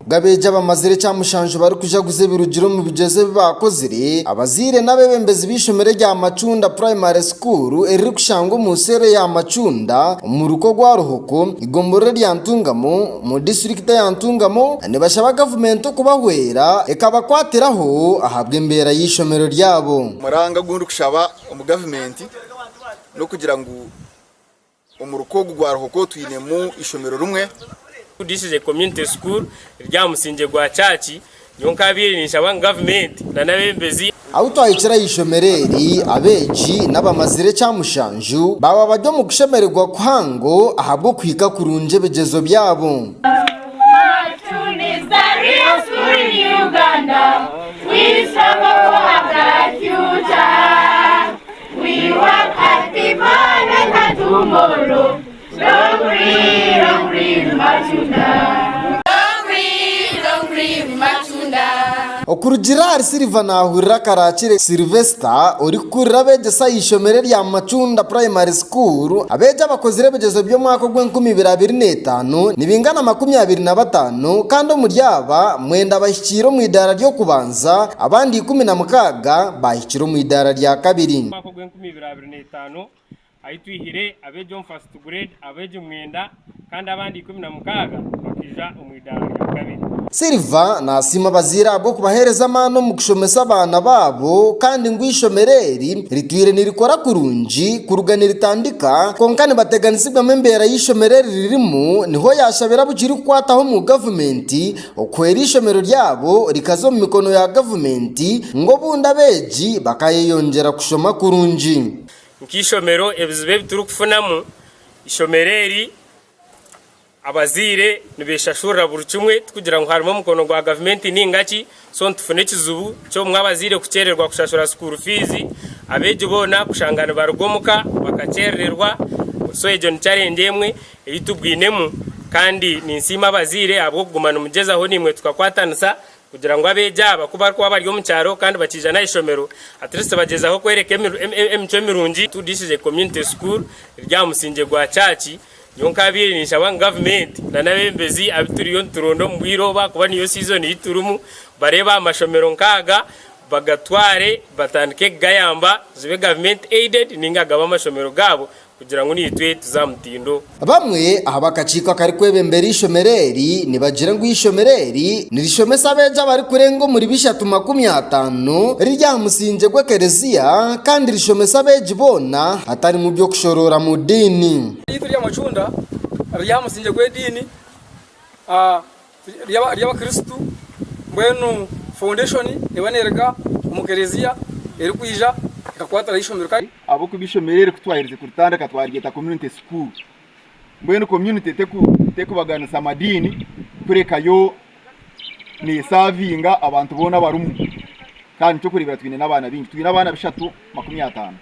G'abeegi abamazire ekyamushanju barikujaguza ebirugire omu bigyezo ebi baakozire, abazaire n'abeebembezi b'eishomero erya Macunda Primary School eririkushangwa omu seero ya Macunda omu ruka ogwa Ruhoko, eigomborora erya Ntungamo omu disiturikiti eya Ntungamo nibashaba gavumenti okubahwera ekabakwatiraho ahabw'embeera y'eishomero ryabo. Omuranga ogu ndikushaba omu gavumenti n'okugira ngu. Omu ruka ogu gwa Ruhoko twinemu eishomero rimwe. This is a community school riri aha musingye gwa church nyowe nkabiire ninshaba ngu gavumenti nana abebembezi. Ahu twahikire aha ishomero eri, abeegi n'abamazire ekya mushanju baaba bari omu kushemererwa kuhango ahabw'okuhika kurungi ebigyezo byabo. Okurugiirira ahari Silver naahurira Karaakire Sylvester orikukurira abeegyesa aha ishomero erya Macunda Primary School. Abeegi abakozire ebigyezo by'omwaka ogw'enkumi ibiri abiri na etaano nibingana makumi abiri na bataano kandi omuri aba, mwenda bahikiire omu eidaara ry'okubanza abandi ikumi na mukaaga bahikiire. kiri omu idaara rya kabiri. Omwaka ogw'enkumi ibiri abiri na etaano, ahi twihire abeegi omu First Grade abeegi mwenda kandi abandi ikumi na mukaaga bakaija omu idaara rya kabiri. Silver naasiima abazaire ahabw'okubaheereza amaani omu kushomesa abaana baabo kandi ngu eishomero eri ritwire nirikora kurungi kuruga niritandika kwonka nibateganisibwamu embeera y'eishomero eri ririmu niho yaashabira abu kirikukwataho omu gavumenti Okwo eri ishomero ryabo rikaza omu mikono ya gavumenti, ngu obundi abeegi bakayeyongyera kushoma kurungi. Nk'eishomero ebizibu ebi turikufunamu, eishomero eri abazaire nibeshashurira buri kimwe tikugira ngu harimu omukono gwa gavumenti nainga ki. So nitufuna ekizibu ky'obumwe abazaire kukyerererwa kushashura sukuuru fiizi, abeegi boona kushanga nibaruga omuka bakakyerererwa. So egyo ni chareengye emwe ei tubwinemu kandi ninsiima abazaire ahabw'okuguma nimugyezaho naimwe tukakwatanisa kugira ngu abeegi aba ku barikuba bari omu kyaro kandi bakiija n'aha ishomero at least bagyezaho kworeka emicwe mirungi. Tudiisize Community School eri aha musingye gwa chaaci nyowe nkaabaire ninshaba ngu gavumenti nana abeebembezi abu turiyo nituronda omu bwire obu ahakuba niyo season ei turimu bareebe aha mashomero nk'aga bagatware batandike kugayamba zibe gavumenti aided nainga gabe amashomero gaabo. Kugira ngu naitwe tuze aha mutindo. Bamwe aha b'akakiiko akarikwebembera eishomero eri nibagira ngu eishomero eri nirishomesa abeegi abarikurenga omuri bishatu makumi ataano, riri aha musingye gw'ekereziya kandi rishomesa abeegi boona hatarimu by'okushoroora mu diini. Eishomero ryaitu erya Macunda riri aha musingye gw'ediini. ry'Abakristo, mbwenu foundation neeba neruga omu Kelezia erikwija ekakwatiraho eishomero. Ahabw'okuba eishomero eri kutwaherize kuritandika twaryeta Community School. Mbwenu community terikubaganisa madiini kureka yo nesavinga abantu boona abarimu. Kandi n'eky'okureebera twine n'abaana baingi, twine abaana bishatu makumi ataano.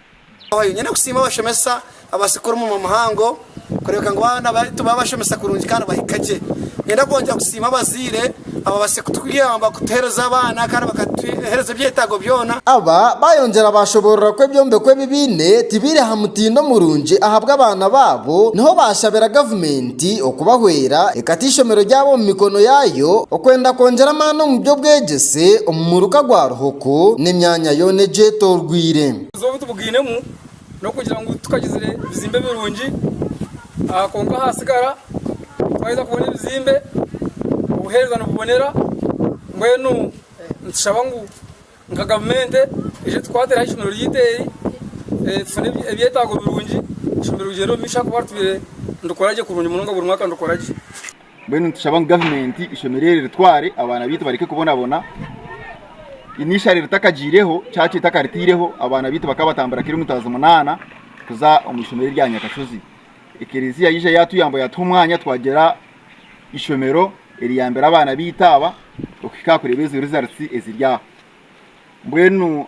Oyo nyine kusiima abashomesa abatsika orumuma muhango kureebeka ngu abaana baitu babashomesa kurungi kandi bahika gye. Ninyenda kwongyera kusiima abazaire ababatsire kutuyamba kutuheereza abaana kandi bakatuheereza ebyetaago byona. Aba baayongyera baashoboorora ku ebyombeko ebi baine tibiiri aha mutindo murungi ahabwa abaana baabo, niho baashabira gavumenti okubahwera ekata eishomero ryabo omu mikono yaayo okwenda kwongyera amaani omu by'obwegyese omu muruka gwa Ruhoko n'emyanya yoona egyetoorweire. Obuguzi obu tubugainemu n'okugira ngu tukagizire bizimbe birungi kwonka ahatsigara twaheza kubona ebizimbe obuhereza nibubonera mbwenu nitushaba ngu nka gavumenti ije etukwatireho eishomero ryaitu eri tufune ebyetaago birungi eishomero rigyende omu maisho ahakuba ritubaire niturikora gye kurungi munonga buri mwaka nirukora gye. Mbwenu nitushaba ngu gavumenti eshemerire eritware abaana baitu bareke kubonabona. Ine ishari ritakagyireho, church etakaritireho, abaana baitu bakaba batambura kiro emitwazo munana kuza omu ishomero erya Nyakashozi. Ekereziya yaija yatuyamba yatuha omwanya twagira ishomero eriyambira abaana baitu aba okuhika aha kureba ezo results eziri aho. Mbwenu